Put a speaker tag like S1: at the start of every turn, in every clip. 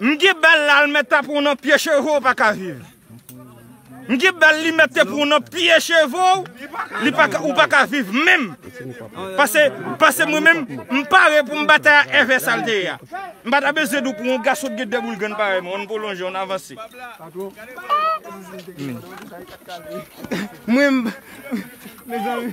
S1: M ki bèl la l mèt ta pran w nan pye cheve w paka viv m ki bèl li mèt te pran w nan pye cheve w li paka ou paka viv menm pase pase mwen menm m pare pou m batay a èvè sa l te ye a m pa ta bezwen di w pou yon gason ki gen de boul grenn parèy mwen an n pwolonje an n avanse mwen m mezanmi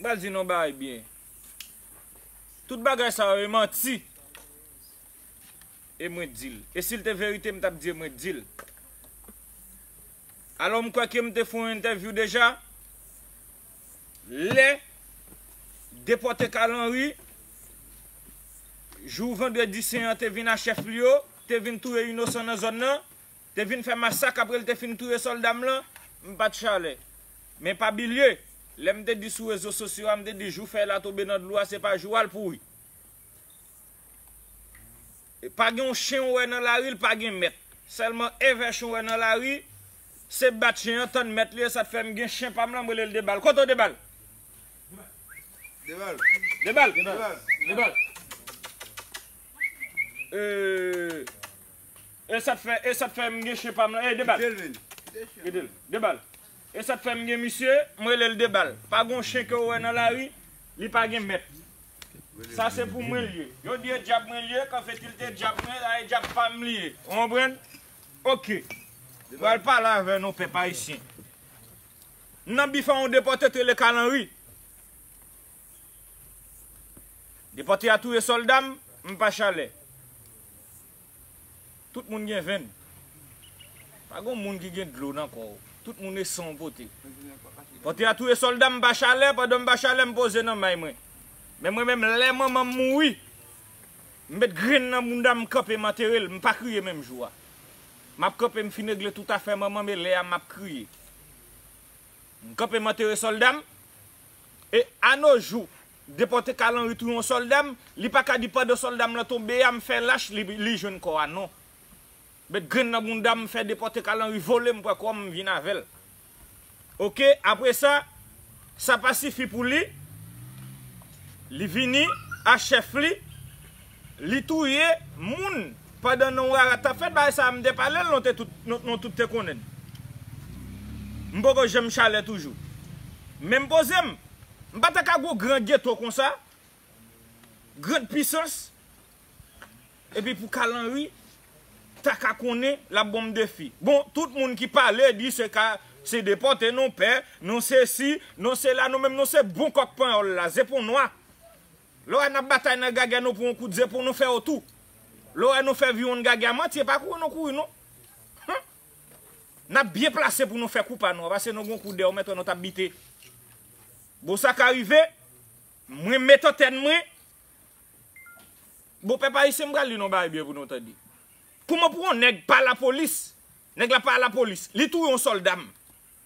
S1: M pral di nou yon bagay byen. Tout bagay sa yo e manti. E mwen di l. E si l te verite m t ap di e mwen di l. Alò m kwè ke m te fè yon entèvyou deja. Lè depòte Carl Henry. Jou vandredi sen an te vin a chèf li yo. Te vin touye inosan nan zòn nan. Te vin fè masak apre l te fin touye sòlda m lan, m pa t chale. Men pa bilye, lè m te di sou rezo sosyo a, m te di jou fèy la tonbe nan dlo a se pa jou a l pouri. Pa gen yon chen ou wè nan lari l pa gen mèt. Sèlman èvèch ou wè nan lari, se bat chen an tann mèt li e sa t fè m gen chen pa m lan m rele l Debal. Kote w Debal? Debal! Debal! Debal! Debal! Debal! Ee, Esat fè esat fè m gen chen pam lan ey debal kite l debal esat fè m gen misye m rele l debal pa gon chen ke w wè nan lari li pa gen mèt sa se pou mwen l ye yo di e dyab mwen l ye kan fetilte dyab mwen la e dyab pa m li ye ou konprann ok m pral pale avè nou pèp ayisyen m nan bif a yon depòte t rele kalanri. Depòte a touye sòlda m, m pa chalè. Tout moun gen venn. Pa gon moun ki gen dlo nan kò w. Tout moun e san w pote. Depòte a touye sòlda m, m pa chalè, pandan m pa chalè m poze nan may mwen. Men mwen menm lè manman m mouri, m met grenn nan bounda m, m kanpe m antere l, m pa kriye menm jou a. M ap kanpe m fin regle tout afè manman m e lè a m ap kriye. M kanpe m antere sòlda m. E a no jou, depòte Carl Henry touye yon sòlda m, li pa ka di pandan sòlda m lan tonbe a m fè lach li li jwenn kò a non. Met grenn nan bounda m fè depòte Carl Henry vole m pran kò m m vin avè l. Ok, apre sa, sa pa sifi pou li, li vini a chèf li, Li touye moun pandan non rara tap fèt bagay sa mte palel non te tout non tout te konnenn mpoko janm chalè toujou men mpozem mpata ka gon gran geto konsa grand pisans epi pou kalanri taka konnen lap bonm defi bon tout moun ki pale di se ka se depòte non pè non sesi non sela nou menm nou se bon kòk panyòl la zepon nwa. Lora nap batay nan gagè nou pou on kout zepou nou fè ou tou lora nou fè viwonn gagè manti epa kouri nou kouri non humm nap byen plase pou nou fè kou pa nou a pase nou gon kou dèw mèt wè nou tap bite bon sa ka rive mwen met antèn mwen bon pèp ayisyen m pral di nou bagay byen pou nou tande kouman pou on nèg pa lapolis nèg la pa lapolis li touye on soldam.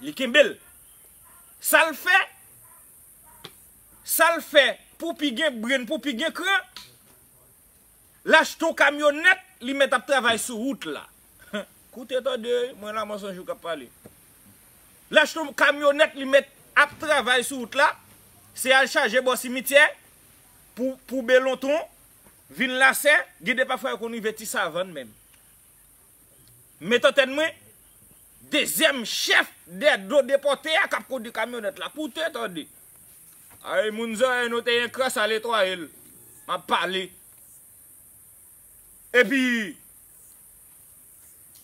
S1: Li kenbel. Sal fè Sal fè pou pi gen brain pou pi gen kran L achte yon kamyonèt li mèt ap travay sou wout la Koute tande mwen la Monsanjou yo k ap pale L achte yon kamyonèt li mèt ap travay sou wout la Se al chaje bò simityè pou pou belonton vin lasè Gen de pafwa yo konn rive ti savann menm Met antèn mwen, dezyèm chèf dè do depòte a kap kondwi kamyonèt la, koute tande. Ay moun zòrèy nou te yon kras a letwaye l, map pale. Epi,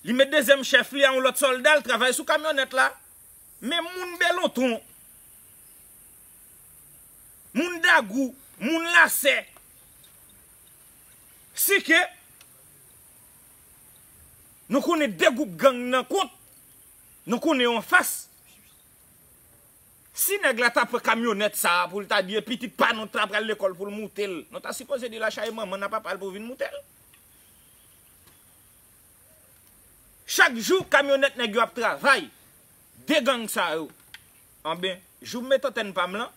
S1: li met dezyèm chèf li a yon lòt sòlda l travay sou kamyonèt la. Men moun Belonton. Moun dagou, moun lasè. Si ke Nou konnen 2 gwoup gang nan kont Nou konnen yo anfas Si nèg la ta pran kamyonèt sa pou l ta di e pitit pa nou ta pral lekòl pou l moute l Nou ta sipoze di l achaye manman n a papa l pou vin moute l Chak jou kamyonèt nèg yo ap travay 2 gang sa yo Anben, jou m met antèn pa m lan,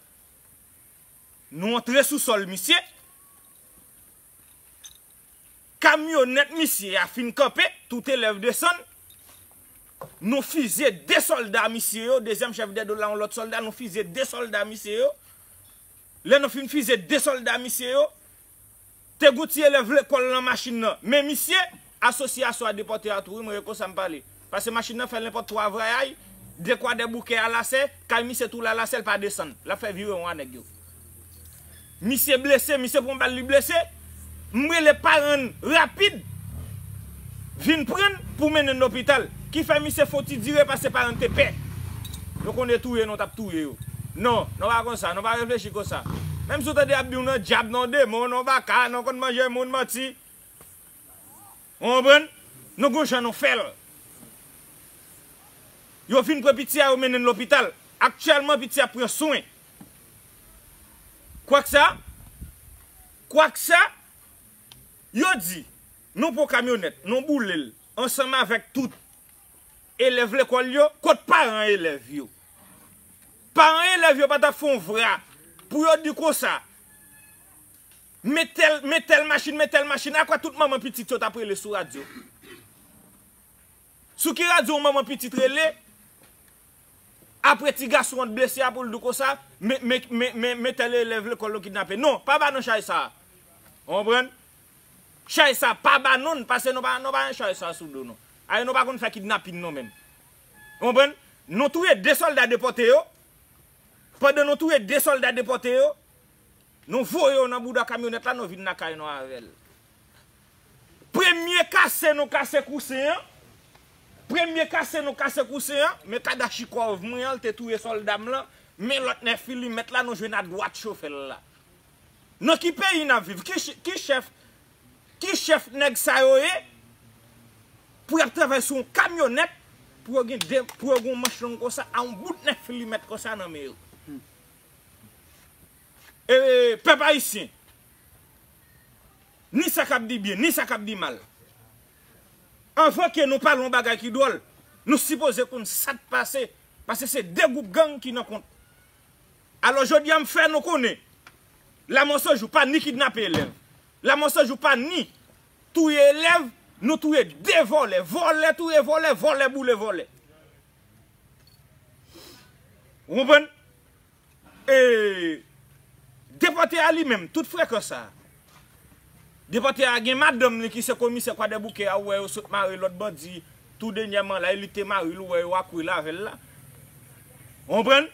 S1: nou antre sou sòl misye, kamyonèt misye a fin kanpe, tout elèv desann, nou fizye 2 sòlda misye yo, dezyèm chèf dè do la yon lòt sòlda, nou fizye 2 sòlda misye yo, lè nou fin fizye 2 sòlda misye yo, Te gon ti elèv lekòl lan machin nan men misye, asosye a swa depòte a tou wi mwen reko sa m pale pase machin nan fè lenpòt twa vrayay de kwa dè bouke a lase kay misye tou la lase l pa desann l ap fè virewon a nèg yo misye blese misye pran bal li blese m rele paran n rapid. Vin pran n pou mennen n lopital. Ki fè misye fon ti dire pase paran n te pè. Nou konn e touye nou tap touye yo. Non, non pa konsa, non pa reflechi konsa. Menm si w tande yap di w non dyab, non demon, non baka, non konn manje moun, manti. Ou konprann? Non gon jan nou fè l. Yo vin pran piti a yo mennen n lopital. Aktyèlman piti a ap pran swen. Kwak sa, kwak sa, yo di. Nou pran kamyonèt, nou boule l, ansanm avèk tout elèv lekòl yo. Kot paran elèv yo? Paran elèv yo pa t ap fè yon vra pou yo di konsa, Men tèl, men tèl machin, men tèl machin. Akwè tout manman pitit yo t ap rele sou radyo? Sou ki radyo yon manman pitit rele, apre ti gason an t blese a pou l di konsa, Men, men, men, men, men tèl elèv lekòl yo kidnape? Non, pa ba nan chay sa a. Ou konprann? Chay sa pa ba non n pase nou pa nou pa gen chay sa sou do nou. Ae nou pa konn fè kidnapin non menm. Ou konprann? Nou touye 2 sòlda depòte yo, pandan nou touye 2 sòlda depòte yo, nou voye yo nan bouda kamyonèt la nou vin lakay nou avè l. Premye kase nou kase kousen an, premye kase nou kase kousen an, men kadachikòv mwen an l te touye sòlda m lan, men lòt nèfilimèt la nou jwenn adwat chofè l la. Nan ki peyi nap viv ki chèf ki chèf nèg sa yo ye pou yap travay sou yon kamyonèt pou yo gen de pou yo gen yon manch long konsa a yon bout 9 milimèt konsa nan men yo ee pèp ayisyen ni sa kap di byen ni sa kap di mal anvan ke nou pale yon bagay ki dwòl nou sipoze konn sat pase pase se 2 gwoup gang ki nan kont. Alò jodi a m fè nou konnen Lamòsojou pa ni kidnape elèv, Lamòsojou pa ni touye elèv, nou touye 2 vòlè, vòlè touye vòlè, vòlè boule vòlè. Ou konprann? E Depòte a li menm, tout frekan sa, Depòte a gen madanm li ki se komisè kwadèboukè a ou wè yo sot mare lòt bandi tou denyèman la e li te mari l ou wè yo ap rele avè l la ou konprann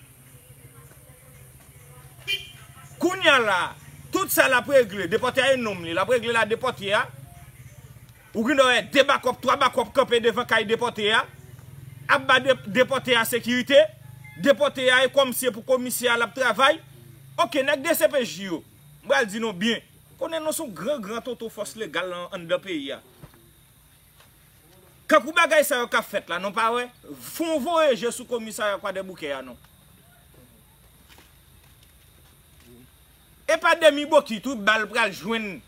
S1: kounya la tout sa l ap regle depòte a e nonm li l ap regle l a depòte a ou gen dwa wè 2 bakòp 3 bakòp kanpe devan kay depòte a ap ba depòte a sekirite depòte a e kòmse pou komisè a l ap travay ok nèg dcpj yo. M pral di nou byen. Konnen nou son gran gran tonton fòs legal lan anndan peyi a. Kankou bagay sa yo ka fèt la nou pa wè. Fon voye je sou komisarya kwadèboukè a non. E pa demi bokit wi bal pral jwenn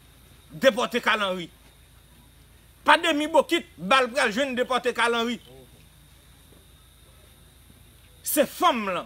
S1: depòte kalanri. Pa demi bokit bal pral jwenn depòte kalanri. Se fanm lan.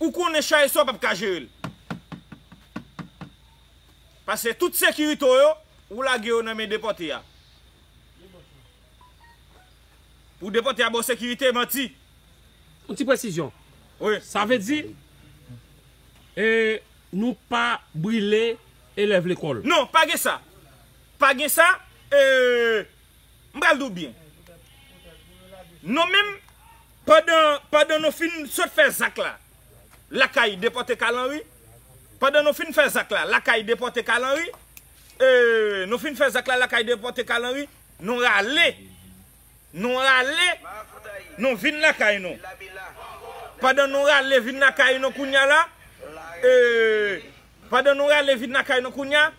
S1: Ou konnen chaye sa w pap ka jere l. Pase tout sekirite w yo, ou lage yo nan men depòte a. Pou depòte a ba w sekirite, manti. Yon ti
S2: presizyon. Wi. Sa vle
S1: di,
S2: e, nou pa brile elèv lekòl. Non, pa gen sa.
S1: Pa gen sa, e, m pral di w byen. Non menm. Pandan pandan nou fin sot fè zak la lakay depòte Carl Henry pandan nou fin fè zak la lakay depòte Carl Henry ee nou fin fè zak la lakay depòte Carl Henry nou rale nou rale nou vin lakay nou pandan nou rale vin lakay nou kounya la ee pandan nou rale vin lakay nou kounya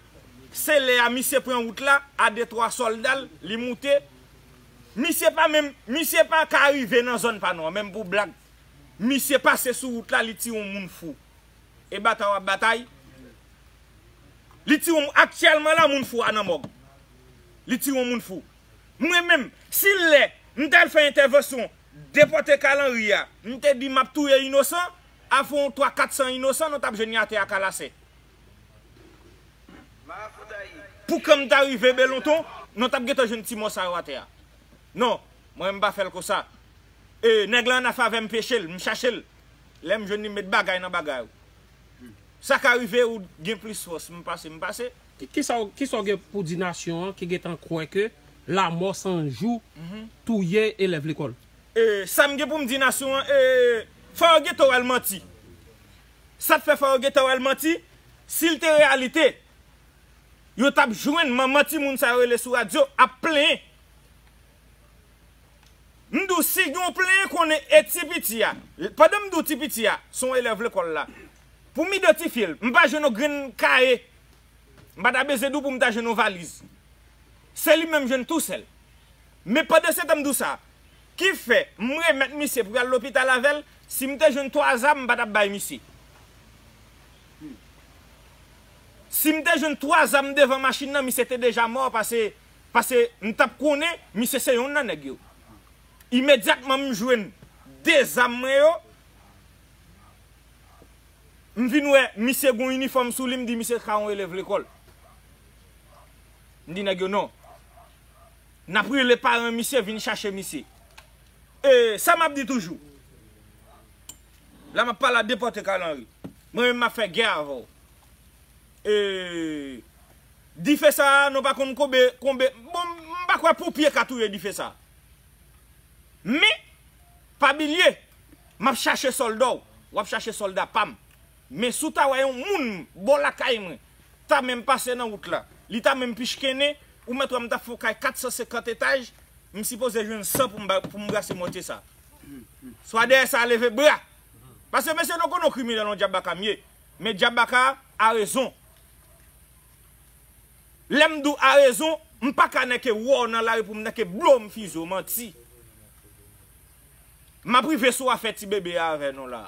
S1: se lè a misye pran wout la a de twa sòlda l li moute Misye pa menm misye pa ka rive nan zòn pa nou an menm pou blag misye pase sou wout la li tire yon moun fou e batay wap batay li tire yon aktyèlman la moun fou a nan mòg li tire yon moun fou mwen menm si lè m tal fè entèvansyon depòte Carl Henry a m te di map touye inosan afè yon 3 400 inosan nou tap jwenn yo atè a kalasè. Pou kèm ta rive belonton non tap gentan jwenn ti mò sa yo atè a non mwen menm mpa fèl konsa e nèg lan nan favèm pechel mchachel lèm jwenn li mmet bagay nan bagay ou saka rive ou gen plis fòs mpase mpase.
S2: Kisa w gen pou di nasyon an ki gentan kwè ke lamò san jou touye elèv lekòl? Sam gen
S1: poum di nasyon an fò yo gentan wèl manti Sa t fè fò yo gentan wè l manti? Si l te reyalite, yo t ap jwenn manman timoun sa yo rele sou radyo ap plenyen. M di w si gen yon plenyen konnen e ti piti a, pandan m di w ti piti a, se yon elèv lekòl la, pou m idantifye l, m pa jwenn yon grenn kaye, m pa ta bezwen di w pou m ta jwenn yon valiz. Se li menm jwenn tou sèl. Men pandansetan m di w sa. Ki fè, m remèt misye pou y al lopital avè l, si m te jwenn 3 zam m pa t ap bay misye. Si m te jwenn 3 zam devan machin nan misye te deja mò pase pase m t ap konnen misye se yon nan nèg yo. Imedyatman m jwenn 2 zam mwen yo, m vin wè misye gen yon inifòm sou li m di misye se ka yon elèv lekòl. M di nèg yo non. Nap rele paran misye vin chache misye. E sa map di toujou. La map pale a depòte Carl Henry. Mwen menm map fè gè avè w. E dife sa a nou pa konn konbe konbe. Bon m pa kwè ponpye ka touye dife sa a. Men pa bilye map chache sòlda w. Wap chache sòlda pam. Men si w ta wè yon moun bò lakay mwen, ta menm pase nan wout la, li ta menm pichkennen, ou mèt wè m ta fè yon kay 450 etaj, m sipoze jwenn san pou m bay, pou m brase mòtye sa. Swa dèyè sa leve bra! Pase mesye nou konnen yon kriminèl yon djabaka m ye, men djabaka a rezon. Lè m di w a rezon, m pa ka nèke wè w nan lari pou m nèke blow m fize w, manti. Map rive sou afè ti bebe a avè nou la.